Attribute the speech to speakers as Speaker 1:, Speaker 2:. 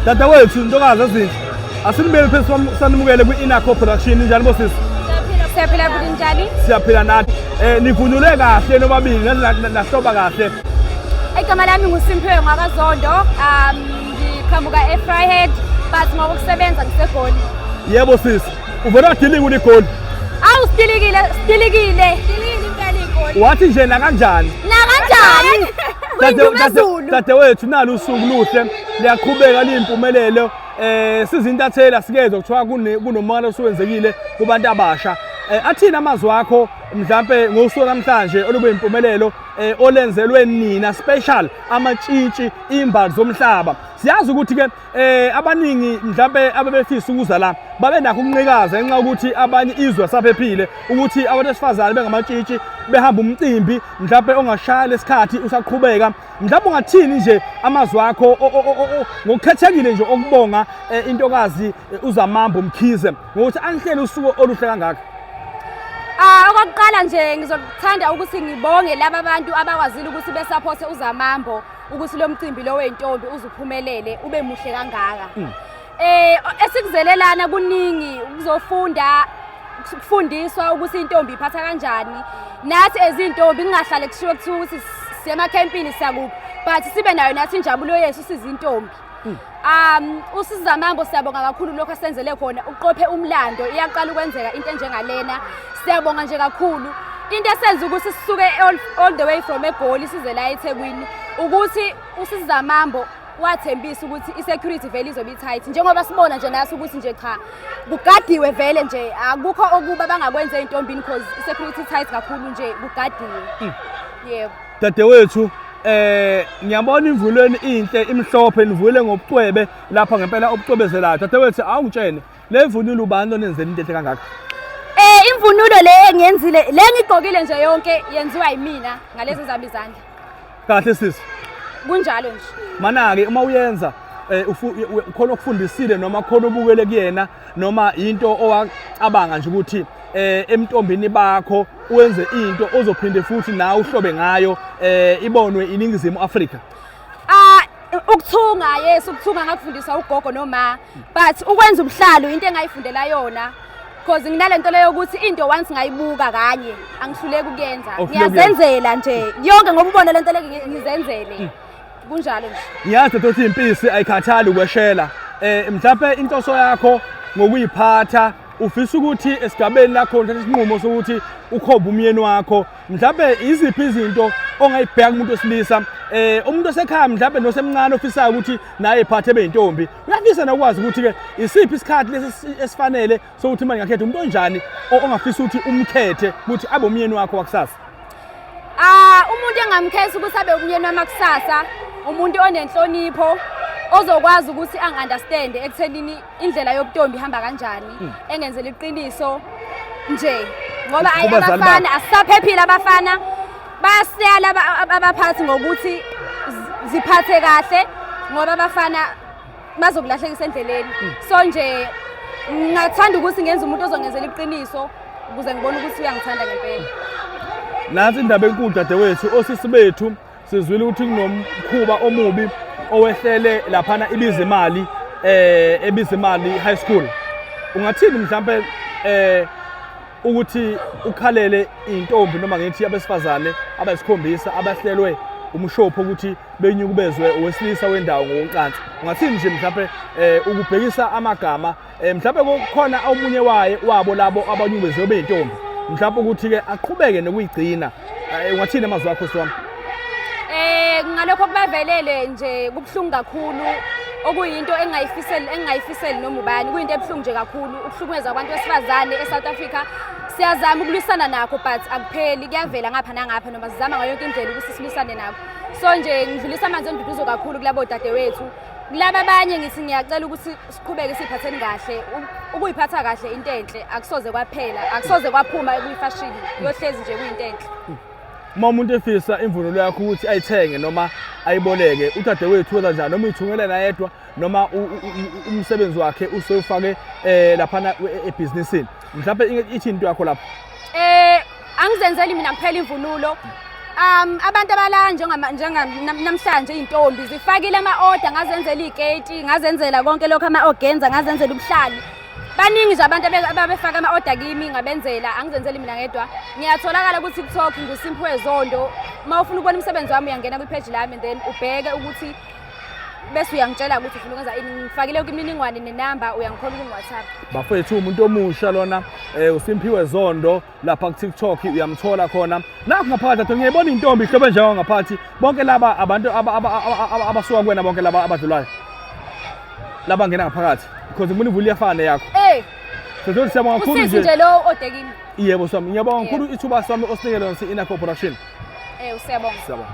Speaker 1: dadewethu ntokazi ezinhle asinibeli phezu sanimukele kwi-inaco production njani bosisi siyaphila bhuti
Speaker 2: njani siyaphila nathi
Speaker 1: um nivunule kahle nobabili nahloba kahle igama lami
Speaker 2: ngusimphiwe ngwakazondo um ngiqhamuka e-fryhead but ngoba ukusebenza ngisegoli yebo sisi
Speaker 1: Uvele wadilika uligoli. Awu sidilikile,
Speaker 2: sidilikile. Wathi nje nakanjani?
Speaker 1: Nakanjani? Kuyindumezulu. Dadewethu nalo usuku luhle liyaqhubeka liyimpumelelo eh sizintathela sikezwe kuthiwa kunomona osuwenzekile kubantu abasha Eh, athini amazwi akho mhlampe ngosuku namhlanje olube impumelelo eh, olenzelwe nina special amatshitshi imbali zomhlaba siyazi ukuthi ke eh abaningi mhlambe abebefisa ukuza la babe nakho ukunqikaza ngenxa ukuthi abanye izwe saphephile ukuthi abantu besifazane bengamatshitshi behamba umcimbi mhlambe ongashaya lesikhathi usaqhubeka mhlambe ungathini nje amazwi akho ngokukhethekile nje okubonga eh, intokazi eh, uzamambo mkhize ngokuthi anihlele usuku oluhle kangaka Ah okokuqala
Speaker 2: nje ngizothanda ukuthi ngibonge laba bantu abakwazile ukuthi besaphothe uzamambo ukuthi lo mcimbi lo wentombi uzuphumelele ube muhle kangaka mm. eh esikuzelelana kuningi ukuzofunda ukufundiswa ukuthi intombi iphatha kanjani nathi ezintombi kungahlale kushiwo kuthiwa ukuthi siyemakhempini siyakuphi but sibe nayo nathi injabulo yethu sizintombi Hmm. Um usiza mambo siyabonga kakhulu lokho asenzele khona uqophe umlando iyaqala ukwenzeka into enjengalena siyabonga nje kakhulu into esenza ukuthi sisuke all the way from egoli size la eThekwini ukuthi usiza mambo wathembisa ukuthi i-security vele izobe i-tight njengoba sibona nje naso ukuthi nje cha kugadiwe vele nje akukho okuba bangakwenza ey'ntombini because i-security tight kakhulu nje kugadiwe hmm. yebo dadewethu
Speaker 1: eh ngiyabona imvulweni inhle imhlophe nivule ngobucwebe lapha ngempela obucwebezelayo dadewethu awungitshene le mvunulo ubani onenzela into enhle kangaka eh imvunulo
Speaker 2: le engiyenzile le ngigqokile nje yonke yenziwa yimina ngalezi zami izandla kahle sisi
Speaker 1: kunjalo nje
Speaker 2: mana-ke uma
Speaker 1: uyenza um khona okufundisile noma khona obukele kuyena noma into owacabanga nje ukuthi eh emntombini bakho wenze into ozophinde futhi nawe uhlobe ngayo eh ibonwe iningizimu Afrika ah ukuthunga
Speaker 2: yes ukuthunga ngakufundiswa ugogo noma but ukwenza ubuhlalo into engayifundela yona because nginalento leyo ukuthi into once ngayibuka kanye angihluleki ukuyenza ngiyazenzela nje yonke ngoba ubona lento leke ngizenzele mm. kunjalo nje ngiyazi ukuthi impisi
Speaker 1: ayikhathali ukweshela eh mhlawumbe intoso yakho ngokuyiphatha ufisa ukuthi esigabeni lakho uthathe isinqumo sokuthi ukhombe umyeni wakho mhlawumbe iziphi izinto ongayibheka kumuntu wesilisa eh umuntu osekhaya mhlawumbe nosemncane ofisayo ukuthi naye ephathe beyintombi uyafisa nokwazi ukuthi ke isiphi isikhathi lesi esifanele so uthi manje ngakhetha umuntu onjani ongafisa ukuthi umkhethe ukuthi abe umyeni wakho wakusasa ah
Speaker 2: umuntu engamkhetha ukuthi abe umyeni wami wakusasa umuntu onenhlonipho ozokwazi ukuthi angunderstand ekuthenini indlela yobutombi ihamba kanjani hmm. engenzela iqiniso nje ngoba ayi abafana asisaphephile abafana bayasiyala abaphathi ngokuthi ziphathe kahle ngoba abafana bazokulahlekisa endleleni so nje ngathanda ukuthi ngenze umuntu ozongenzela iqiniso ukuze ngibone ukuthi uyangithanda ngempela nansi
Speaker 1: indaba enkulu dadewethu osisi bethu sizwile ukuthi kunomkhuba omubi owehlele laphana ibiza imali eh ebiza imali high school ungathini mhlambe eh ukuthi ukhalele intombi noma ngithi abesifazane abasikhombisa abahlelwe umshopho ukuthi benyukubezwe owesilisa wendawo ngokocansi ungathini nje mhlawumbe um eh, ukubhekisa amagama um eh, mhlawumbe kukhona omunye waye wabo labo abanyukubezwe beyintombi mhlawumbe ukuthi-ke aqhubeke nokuyigcina um ungathini amazwi akho siwami
Speaker 2: um ngalokho kubavelele nje kubuhlungu kakhulu okuyinto engingayifiseli engingayifiseli noma ubani kuyinto ebuhlungu nje kakhulu ukuhlukumeza abantu besifazane e-south africa siyazama ukulwisana nakho but akupheli kuyavela ngapha nangapha noma sizama ngayo yonke indlela ukuthi silwisane nakho so nje ngidlulisa amanzi enduduzo kakhulu kulabo dadewethu kulaba abanye ngithi ngiyacela ukuthi siqhubeke siphatheni kahle ukuyiphatha kahle into enhle akusoze kwaphela akusoze kwaphuma kuyifashini yohlezi nje kuyinto enhle uma umuntu
Speaker 1: efisa imvunulo yakho ukuthi ayithenge noma ayiboleke udadewethu wenza njani noma uyithungele nayedwa noma umsebenzi wakhe usewufake um laphana e-, ebhizinisini mhlawumbe ithi into yakho lapho Eh angizenzeli
Speaker 2: mina
Speaker 1: kuphela imvunulo. Um
Speaker 2: abantu abala njengama njengamhlanje izintombi zifakile ama order ngazenzela iketi, ngazenzela konke lokho ama organza, ngazenzela ubuhlali. Baningi nje abantu ababefaka ama order kimi ngabenzela angizenzeli mina ngedwa. Ngiyatholakala ukuthi kuTalk nguSimphiwe Zondo. Uma ufuna ukubona umsebenzi wami uyangena kwi page lami then ubheke ukuthi bese uyangitshela ukuthi ufuna ukwenza ini ngifakile yonke imininingwane nenamba uyangikhona ukungiwhatsapp bafethu umuntu
Speaker 1: omusha lona um usimphiwe zondo lapha kutiktok uyamthola khona nakho ngaphakathi atho ngiyayibona intombi ihlobo enjengo ngaphathi bonke laba abantu abasuka kuwena bonke laba abadlulayo laba ngena ngaphakathi because ngifuna ivula iyafana yakho ey Setholi siyabonga kakhulu nje. Usisi nje lo odekimi.
Speaker 2: Yebo sami. Ngiyabonga
Speaker 1: kakhulu ithuba sami osinikele lona si-Inner
Speaker 2: Corporation.
Speaker 1: Eh usiyabonga. Siyabonga.